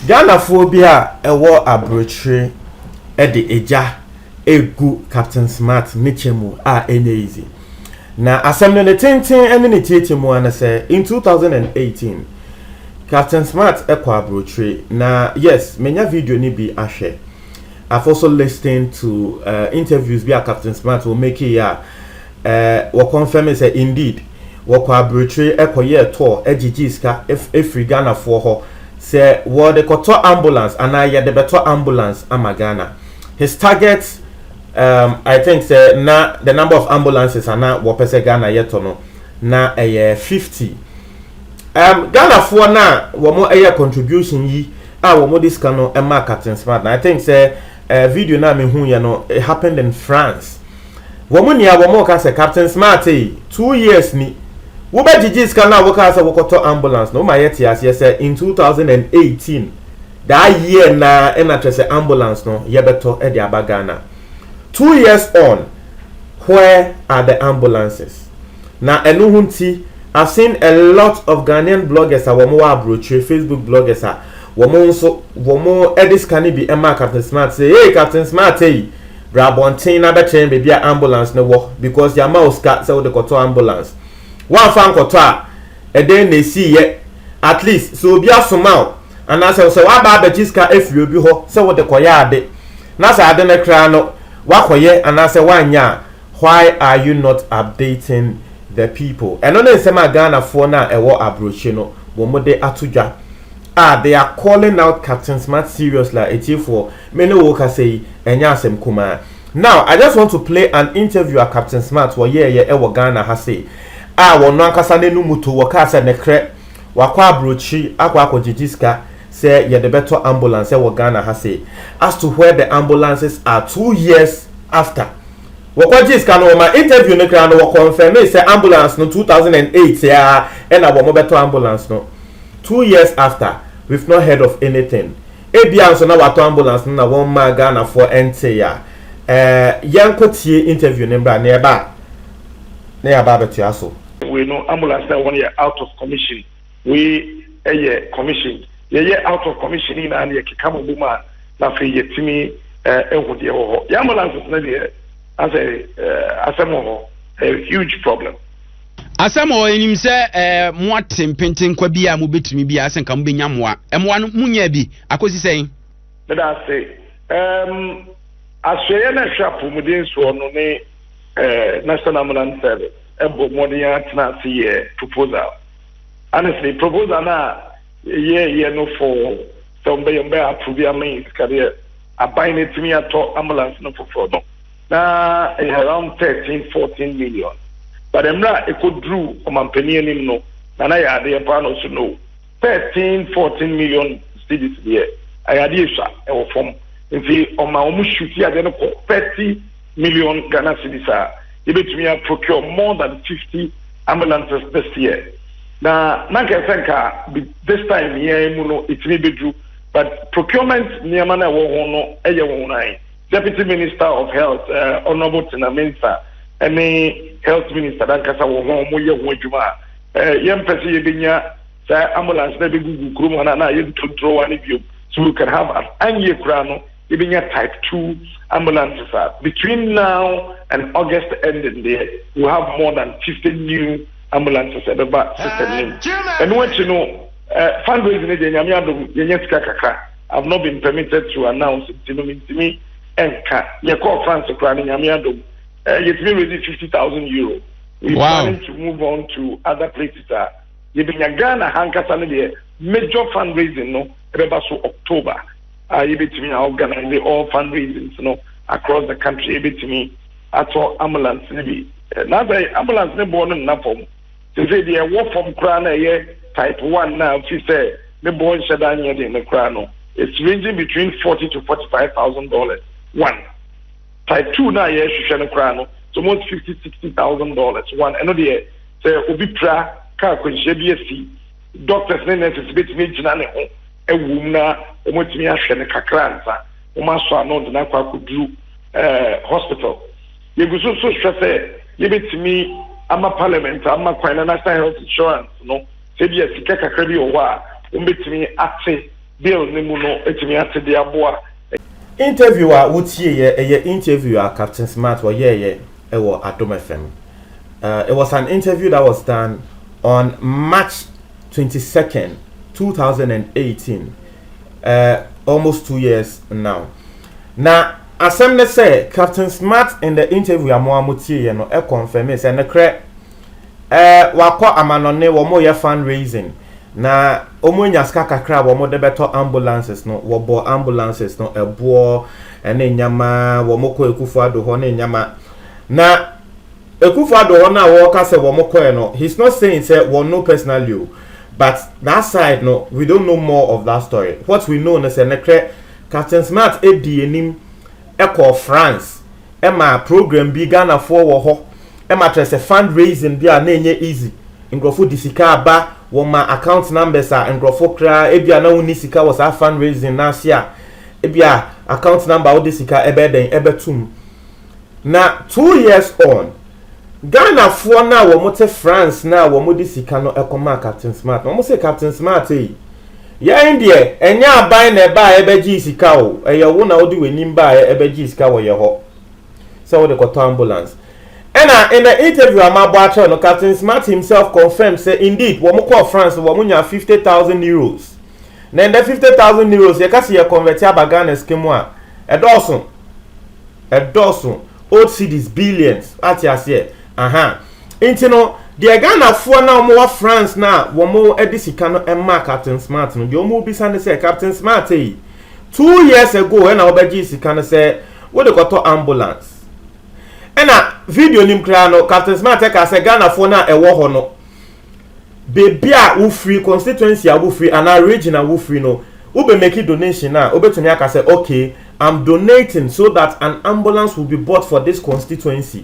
Ghanafoɔ bi a ɛwɔ aburokyire de egya regu Captain Smart ne kyɛ mu a ɛnyɛ easy. Na asɛm no ne tenten ne ne tietie mu ara ne sɛ in 2018 Captain Smart kɔ aburokyire na yes menya video no bi ahwɛ. I've also listened to uh, interviews bi a Captain Smart wɔ make yi a uh, wɔ confirm sɛ indeed wɔkɔ aburokyire ɛkɔyɛɛ tour ɛgyegye sika ɛfiri Ghanafoɔ hɔ sɛ wɔde kɔtɔ ambulance anaa yɛde bɛtɔ ambulance ama Ghana. His target um, I think sɛ na the number of ambulances ana wɔpɛ sɛ Ghana yɛtɔ no na ɛyɛ 50 um, ghanafoɔ no a wɔn ɛyɛ contribution yi a wɔn de sika no ɛma captain smart na i think sɛ uh, video no a mehu yɛ no it happened in france wɔn nia wɔn ka sɛ captain smart yi eh, two years ni wobɛgyegye sika no a wokaa sɛ wokɔtɔ ambulance no woma yɛte aseɛ sɛ in 2018 daa year na ɛna kyerɛ sɛ ambulance no yɛbɛtɔ de aba ghana Two years on, where are the ambulances? Na ɛno ho nti, I've seen a lot of Ghanaian bloggers a wɔn wɔ aburokyire, Facebook bloggers a wɔn nso wɔn de sika no bi maa Captain Smart sɛ, hey Captain Smart yi, bra abɔnten na bɛkyerɛ yɛn baabi a ambulance no wɔ because yɛama wo sika sɛ wode kɔtɔ ambulance. Woamfa nkɔtɔ a, ɛdɛn na ɛsiiɛ? At least sɛ obi asoma wo anaasɛ sɛ woaba abɛgye sika afiri obi hɔ sɛ wode kɔyɛ ade Na sɛ ade no koraa no woakɔyɛ anaasɛ woanyɛ a, why are you not updating the people? Ɛno ne nsɛm a Ghanafoɔ no a ɛwɔ abrokyi no wɔn de ato dwa a they are calling out Captain Smart seriously a atiefoɔ me ne wo rekasa yi ɛnyɛ asɛm kumaa. Now I just want to play an interview a Captain Smart wɔyɛɛyɛ ɛwɔ Ghana ha sei a wɔn ankasa n'anum to wɔkaa sɛ mekrɛ wakɔ abrokyi akɔ akɔgyegye sika sɛ yɛde bɛtɔ ambulance sɛ wɔ Ghana ha sei as to where the ambulances are two years after wɔkɔgyee sika no wɔma interview no koraa no wɔ confirmee sɛ ambulance no two thousand and eight aa ɛna wɔn bɛtɔ ambulance no two years after we've not heard of anything ebia nso na watɔ ambulance no na wɔn mmaa Ghanafoɔ ɛntee a ɛɛ yɛnkɔ tie interview no mbra na yɛba a na yɛaba abɛtoa so. Wei no ambulance na ɛwɔ no yɛ out of commission. Wei yɛ commission. Yɛyɛ out of commission no nyinaa no yɛkeka ma bom a na afei yɛtumi hu deɛ ɛwɔ hɔ. Yɛn ambulances no deɛ asɛ asɛm wɔ hɔ, ɛyɛ huge problem. Asɛm wɔ hɔ, yɛnim sɛ moate mpentenkwa bi a mobɛtumi bi a sɛ nka mobɛnya mmoa. Mmoa no monyaa bi akɔsi sɛn? Meda ase. Um, asoɛeɛ no ɛhwɛ apɔmuden soɔ no ne uh, National Ambulance Service ɛbɔ mmɔden atena ase yɛ proposal. Honestly, proposal no a yɛyɛeɛ no for sɛ wɔbɛyɛ wɔbɛyɛ approve ama yɛn sika deɛ, aban no atumi atɔ ambulance no foforɔ no, na ɛyɛ around thirteen, fourteen million. But mmerɛ a ɛkɔduruu ɔmampanin anim no, Nana yɛɛ adeɛ paa na ɔso no, thirteen, fourteen million cedis deɛ, ɛyɛ adeɛ ɛsua, ɛwɔ fam. Nti ɔma wɔn shuti adeɛ no kɔ thirty. million Ghana cedis a, yɛbɛtumi a procure more than 50 ambulances this year. Na na nka ɛsɛ nka this time yi ara mu no ɛtumi bɛduru but procurement nneɛma no a ɛwɔ ho no ɛyɛ nwonwan. Deputy Minister of Health uh, Honourable Tina Mensah ɛne Health Minister dankasa wɔ ho wɔn yɛ ho adwuma a uh, yɛmpɛ sɛ yɛbɛnya saa ambulance na ɛbɛgugu kurom ha na na yɛntontoro wa no biom so we can have an anyeɛ koraa no Yɛbɛnya type two ambulances a between now and August ending deɛ we will have more than fifty new ambulances a ɛbɛba system no mu. Ɛno akyi no eh, fundraising no deɛ Nyame adom yɛnya sika kakra. I have not been permitted to announce nti no mentumi nka. Yɛkɔɔ France koraa no Nyame adom eh, yɛtumi raise fifty thousand euro. We wow. planning to move on to other places a yɛbɛnya Ghana hankasa no deɛ major fundraising no ɛbɛba so October. a yɛbɛtumi a organise all fund raisings no across the country yɛbɛtumi atɔ ambulance no bi na sɛ ambulance no boɔ no nna fam sese deɛ ɛwɔ fam koraa na ɛyɛ type one na fi sɛ ne boɔ nhyɛ da nyɛ den no koraa no it's ranging between forty to forty five thousand dollars one type two na yɛhwehwɛ no koraa no it's almost fifty sixty thousand dollars one ɛno deɛ sɛ obi pira kaa kwanhyia bi asi doctors ne nurses bɛtumi agyina ne ho ɛwom na wɔatumi ahwɛ no kakra ansa wɔasɔ ano de no akɔ akɔduru eh, hospital. Yɛgu so nso hwɛ sɛ yɛbɛtumi ama parliament ama kwan na national health insurance no sɛ bi a sika kakra bi wɔ hɔ a wɔbɛtumi ate bill no mu no atumi ate de aboa Interview a wotieeɛ, ɛyɛ interview a Captain Smart ɔyɛeɛ ɛwɔ Adom FM. Uh, it was an interview that was done on March twenty second two thousand and eighteen ɛɛ eh, almost two years now na asɛm ne sɛ captain smart in the interview a mo a mo tie yɛ no ɛkɔnfɛmi sɛ ne korɛ ɛɛ eh, wakɔ amanɔne wɔn yɛ fundraising na wɔn anya sika kakra a wɔn de bɛtɔ ambulances no wɔbɔ ambulances no ɛboɔ ɛne nneɛma wɔn kɔ ekufo ado hɔ ne nneɛma na. Akuffo Addo hɔ no a wɔka sɛ wɔn kɔɛ no he's not saying sɛ wɔn no personally o but that side no we don't know more of that story what we know no sɛ nokorɛ Captain Smart dii anim kɔɔ France ma program bi Ghanafoɔ wɔ hɔ ma kyerɛ sɛ fund raising bi a na ɛnyɛ easy nkorɔfo de sika aba wɔn ma account numbers a nkorɔfo koraa ebi a na wɔn ni sika wɔ saa fund raising no ase a ebi a account number a wode sika ɛbɛyɛ dɛn ɛbɛtum Na two years on, Ghanafoɔ no a wɔte France no a wɔde sika no kɔmaa Captain Smart no, wɔse Captain Smart ei, yɛn deɛ ɛnyɛ aban na ɛbaeɛ bɛgyee sika o, ɛyɛ wo na wode w'anim baeɛ bɛgyee sika wɔ yɛ hɔ sɛ wode kɔtɔ ambulance. Ɛna in the interview a mabɔ akyerɛ no, Captain Smart himself confirmed sɛ indeed wɔn kɔɔ France wɔn nyaa 50,000 euros. Na ɛnɛ 50,000 euros yɛka sɛ yɛ convert aba Ghana sika mu a, ɛdɔɔso. ɛdɔɔso old cities billions ate aseɛ aha nti no deɛ ghanafoɔ na wɔn wɔ france na wɔn de sika no ɛma captain smart no deɛ wɔn bisa ne sɛ captain smart yi two years ago ɛna wɔbɛgye sika no sɛ wɔde kɔtɔ ambulance ɛna video nim koraa no captain smart ɛka sɛ ghanafoɔ na ɛwɔ hɔ no beebi a wo firi, constituency a wo firi anaa region a wo firi no, wo bɛ make donation a, wo bɛtumi aka sɛ okay, I'm donating so that an ambulance will be bought for this constituency.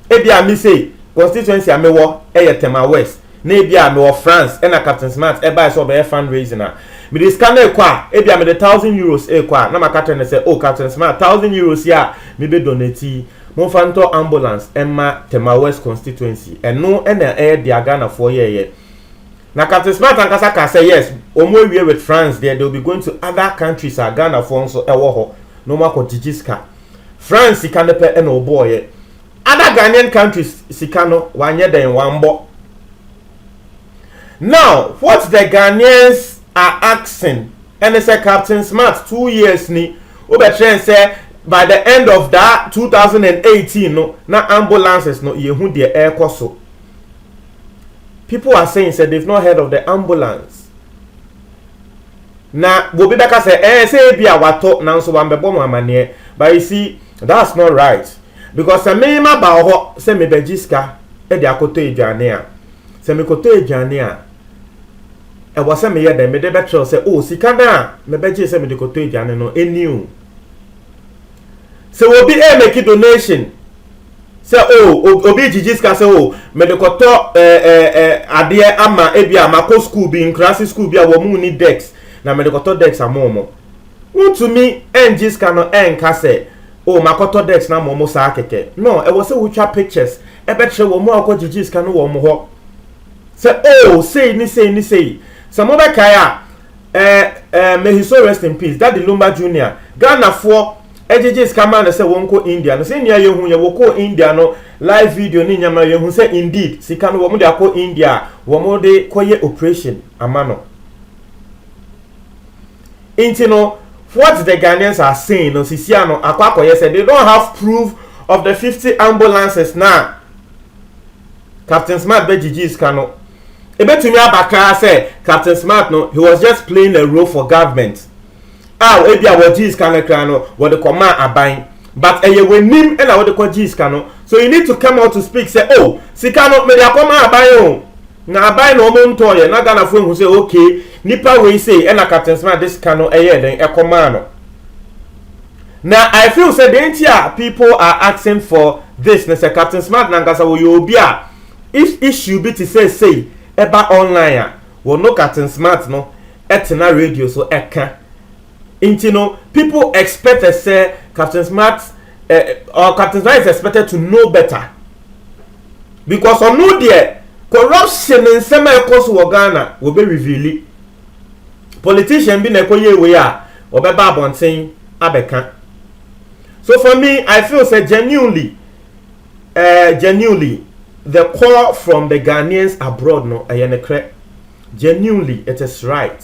Ebi a me say, constituency a me wɔ ɛyɛ Tema West, na ebi a me wɔ France ɛna Captain Smart ɛbae sɛ ɔbɛyɛ fund raising a, me de sika no rekɔ a, ebi a me de thousand euros rekɔ a, na maka kyerɛ no sɛ oh Captain Smart, thousand euros yi a me bɛ donate yi, Momfa ntɔ ambulance mma Tema West constituency. Ɛno na ɛyɛ dea Ghanafoɔ yɛɛyɛ. Na Captain Smart ankasa kaa sɛ yes, wɔn awie with France deɛ, they will be going to other countries a Ghanafoɔ nso ɛwɔ hɔ na wɔn akɔ gyigye sika. France sika no pɛ na wɔbɔɔyɛ. Other Ghanaian countries sika no, wɔanyɛ dɛn, wɔambɔ. Now what the Ghanaians are asking ɛne sɛ Captain Smart two years ni wobɛkyerɛ n sɛ by the end of that 2018 no na ambulances no yɛhu deɛ ɛrekɔ so. People are saying sɛ they've not heard of the ambulance. Na bobi bɛka sɛ ɛɛ eh, sɛ ebi a watɔ nanso wambɛbɔ mo amaneɛ but you see that's not right because sɛ me ma ba hɔ sɛ mebɛgye sika de akɔtɔ aduane a Sɛ mekɔtɔ aduane a, ɛwɔ sɛ meyɛ dɛn? Mede bɛkyerɛw sɛ, o, sika no a mebɛgyee sɛ mede kɔtɔ aduane no, ɛnni o. Sɛ obi ɛremɛki donation, sɛ o, obi regyigye sika sɛ o, mede kɔtɔ adeɛ ama ebi a makɔ sukuu bi, nkuraase sukuu bi a wɔn mu ni dex, na mede kɔtɔ dex ama wɔn. Wontumi ɛngye sika no ɛnka sɛ, o, makɔtɔ dex no ama wɔn saa kɛkɛ. No, ɛwɔ sɛ wotwa pictures. ɛbɛkyerɛ wɔn a wɔkɔgyegye sika no wɔn hɔ sɛ oh sei ne sei ne sei sɛ mobɛkae a ɛɛ ɛɛ may his soul rest in peace daddy lumba junior ghanafoɔ ɛgyegye sika maa no sɛ wɔn kɔ india no sɛ nea yɛhu yɛ wɔkɔ india no live video ne nyama yɛhu sɛ indeed sika no wɔn de akɔ india wɔn de kɔyɛ operation ama no nti no what the Ghanaians are saying no sisia no akɔ akɔyɛ sɛ they don't have proof of the fifty ambulances na Captain Smart bɛ gyigyi sika no ebetumi aba koraa sɛ Captain Smart no he was just playing a role for government a ebi a wɔgye sika no koraa no wɔde kɔ maa aban but ɛyɛ w'anim na wɔde kɔ gye sika no so you need to come out to speak sɛ oh sika no mede akɔ maa aban o. Na aban na ɔmo ntɔɔ yɛ na Ghana foɔ ehu sɛ okay nipa wei sei ɛna Captain Smart de sika no ɛyɛɛ dɛn ɛkɔ maa no na I feel sɛ dɛn nti a people are asking for this ne sɛ Captain Smart nankasa ɔyɛ obi a if issue bi te sɛ sei ɛba online a ɔno Captain Smart no ɛtena radio so ɛka nti no people expected sɛ Captain Smart eh, or Captain Smart is expected to know better. because ɔno deɛ corruption nsɛm a ɛkɔ so wɔ ghana wɔbɛ reveali politician bi na ɛkɔ yie wei a wɔbɛba abɔnten abɛka so for me i feel sɛ genuinely uh, genuinely the call from the ghanaians abroad no ɛyɛ ne korɛ genuinely it is right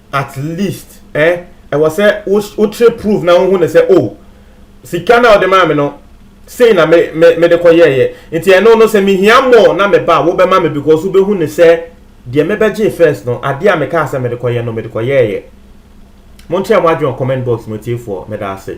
at least eh ɛwɔ sɛ wo wo kyerɛ proof na wohu ne sɛ oh sika na ɔde maa me no sei na me me me de kɔ yɛɛyɛ nti ɛno no sɛ mehia more na me ba wobɛma me because wobɛhu ne sɛ deɛ mebɛgye first no adeɛ a mekaa sɛ mede kɔ yɛ no mede kɔ yɛɛyɛ monkyerɛ mo adwene wɔ comment box mu atiefoɔ meda ase